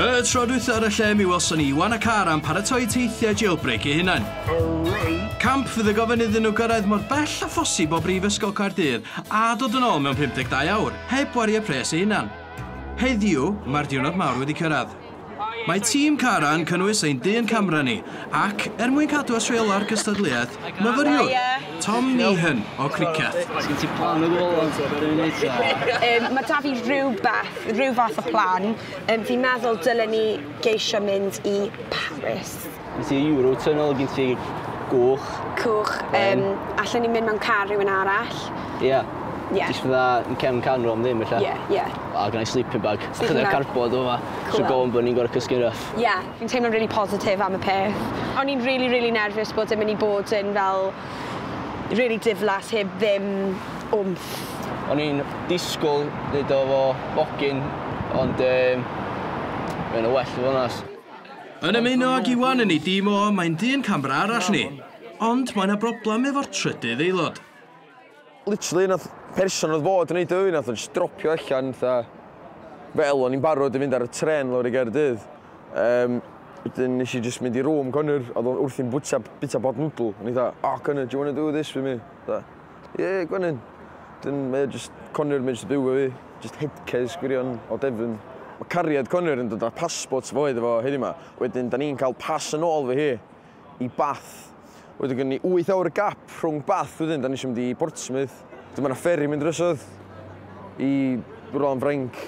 Y tro dwytha ar y lle mi welson ni Iwan a Cara yn paratoi teithiau jailbreak eu hunain. Camp fydd y gofyn iddyn nhw gyrraedd mor bell a phosib o Brifysgol Caerdydd a dod yn ôl mewn 52 awr, heb wario pres eu hunan. Heddiw, mae'r diwrnod mawr wedi cyrraedd. Mae tîm Cara'n cynnwys ein dyn camera ni, ac, er mwyn cadw at reola'r gystadleuaeth, myfyriwr, Tom Meehan, o Criceth. Sgen ti plan o gwbl am be ni'n neud ta? Yym ma' 'da fi rywbeth, ryw fath o plan. Yym fi'n meddwl dylen ni geisio mynd i Paris. Gen ti Eurotunnel, gen ti Goch. Coch. Yym allen ni mynd mewn car rhywun arall. Ia. Ia. Jyst fatha yn cefn can ro am ddim ella. Ie ie. A gynnai sleeping bag. Sleeping bag. Chydig o cardboard o fama. Cŵl. So go on bo' ni'n gor'o' cysgu'n rough. Ia. Fi'n teimlo'n rili positif am y peth. O'n i'n rili rili nerfus bod e myn' i bod yn fel rili diflas heb ddim wmff. O'n i'n disgwl neud o efo bogyn ond yym ma' ynna well i fo' yn onast. Yn ymuno ag Iwan yn ei dîm o, mae'n dyn camera arall ni. Ond mae 'na broblem efo'r trydydd aelod. Literally nath person odd fod yn neud o i fi nath o jyst dropio allan fatha fel o'n i'n barod i fynd ar y trên lawr i Gaerdydd yym wedyn nes i jyst mynd i room Conor odd o wrthi'n bwyta bita pot noodle o'n i fatha oh Conor do you wanna do this with me fatha Ie, gwenyn. Dyn, mae o jyst, Connor, mae o jyst yn byw efo fi. Jyst headcase gwirion o Devon. Mae cariad Connor yn dod â passports fo iddo fo heddiw 'ma. Wedyn, da ni'n cael pas yn ôl efo hi i Bath. Wedyn gynnon ni wyth awr gap rhwng Bath wedyn, da ni isio mynd i Portsmouth. Wedyn mae 'na fferi mynd drosodd i rwla yn Ffrainc.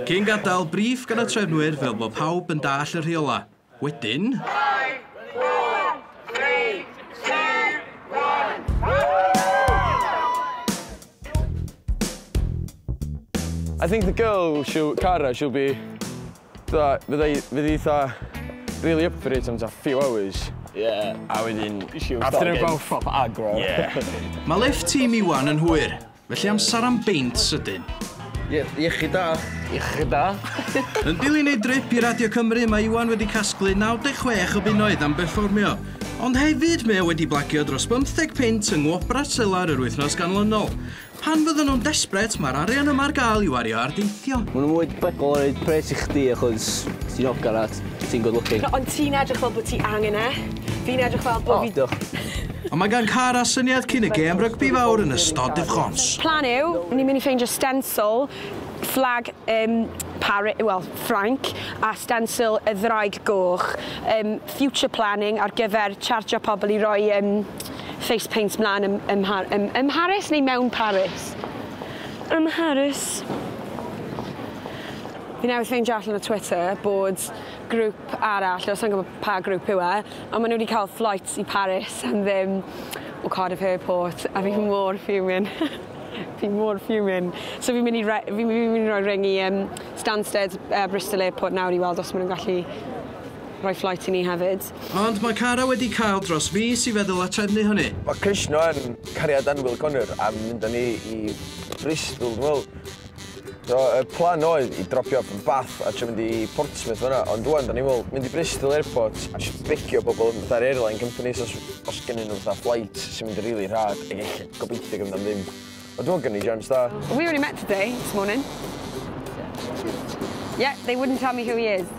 Cyn gadael, brîff gan y trefnwyr fel bod pawb yn dallt y rheolau. Wedyn... Five, four, three, two, one. I think the girl, she'll, Cara, she'll be... Tha, fydda i, fydda i tha, really up for it am ta few hours. Yeah. A wedyn... After about... Proper aggro. Yeah. Mae lift tîm Iwan yn hwyr. Felly amser am beint sydyn. Ie, iechyd da. Iechyd da. Yn dilyn ei drip i Radio Cymru, mae Iwan wedi casglu 96 o bunnoedd am berfformio. Ond hefyd, mae o wedi blagio dros 50 punt yng Ngwobrau Selar yr wythnos ganlynol. Pan fyddan nhw'n desbret, mae'r arian yma ar gael i'w wario ar deithio. Maen nhw'n mwy debygol o roid pres i chdi achos ti'n ogr at Ti'n good looking. No, ond ti'n edrych fel bod ti angen e. Fi'n edrych fel bod fi... O, diolch. Ond mae gan Cara syniad cyn y gêm rygbi fawr yn ystod difrhons. Plan yw, ni'n mynd i ffeindio stencil fflag um, Pari, well, Ffrainc a stencil y ddraig goch. Um, future planning ar gyfer chartio pobl i roi um, face paint mlaen ym, ym, ym, ym Mharis neu mewn Paris? Ym Mharis. Fi newydd ffeindio allan o Twitter bod grŵp arall, o sa'n gwybod pa grŵp yw e, ond maen nhw wedi cael flights i Paris am ddim o Cardiff Airport, a fi mor fuming. fi mor fuming. So fi'n mynd i, re- fi'n fi mynd i roi ring i um, Stansted uh, Bristol Airport nawr i weld os maen nhw'n gallu rhoi flight i ni hefyd. Ond mae Cara wedi cael dros mis i feddwl a trefnu hynny. Mae Krishna yn cariad annwyl Connor am mynd â ni i Bristol, dwi'n meddwl. So, y plan oedd i dropio yn Bath a trio mynd i Portsmouth fyna, ond dwi'n da ni'n meddwl, mynd i Bristol Airport a just begio pobl yn fatha'r airline company, os, os gennyn nhw fatha flight sy'n mynd yn rili really rhad, ac eich gobeithio gyda am ddim. Ond dwi'n gynnu jams da. We only met today, this morning. Yeah, they wouldn't tell me who he is.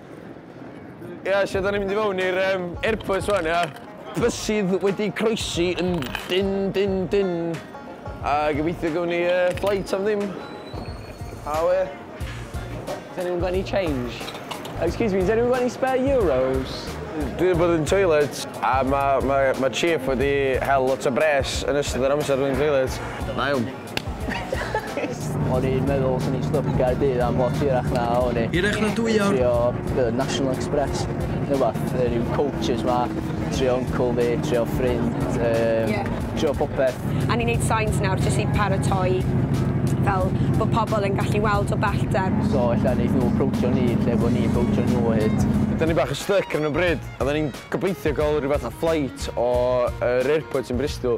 Ia, lle 'dan ni'n mynd i fewn i'r um, airport rwan, ia? Bysydd wedi croesi yn dyn, dyn, dyn. A gobeithio gawn ni uh, flight am ddim. A we? Has anyone got any change? Excuse me, has anyone got any spare euros? Dwi wedi bod yn toilet a mae ma, ma chief wedi hel lot o bres yn ystod yr amser dwi'n toilet. Na iawn. O'n i'n meddwl swn i'n styc i Gaerdydd am lot hirach na o'n i. Hirach na dwy awr? Trio be' o'dd National Express ne' wbath yy ryw coaches 'ma trio uncle fi trio ffrind yym... Ie. ...trio popeth. A ni'n neud signs nawr jyst i paratoi fel bo' pobol yn gallu weld o bellter. So ella neith nw aproachio ni lle bo' ni'n aproachio nw o hyd. 'Da ni bach yn styc ar 'yn o bryd a 'da ni'n gobeithio ga'l rhyw fath o flight o yr airport yn Bristol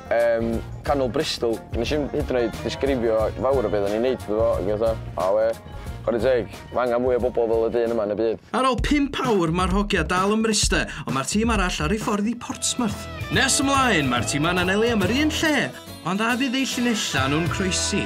Yym, canol Bristol. Nes i'm hyd yn oed ddisgrifio fawr o beth o'n i'n neud iddo fo, ag fatha, a we, chwarae teg, mae angen mwy o bobl fel y dyn yma yn y byd. Ar ôl pump awr, mae'r hogia dal ym Mryste, ond mae'r tîm arall ar ei ffordd i Portsmouth. Nes ymlaen, mae'r timau'n anelu am yr un lle, ond a fydd eu llinellau nhw'n croesi?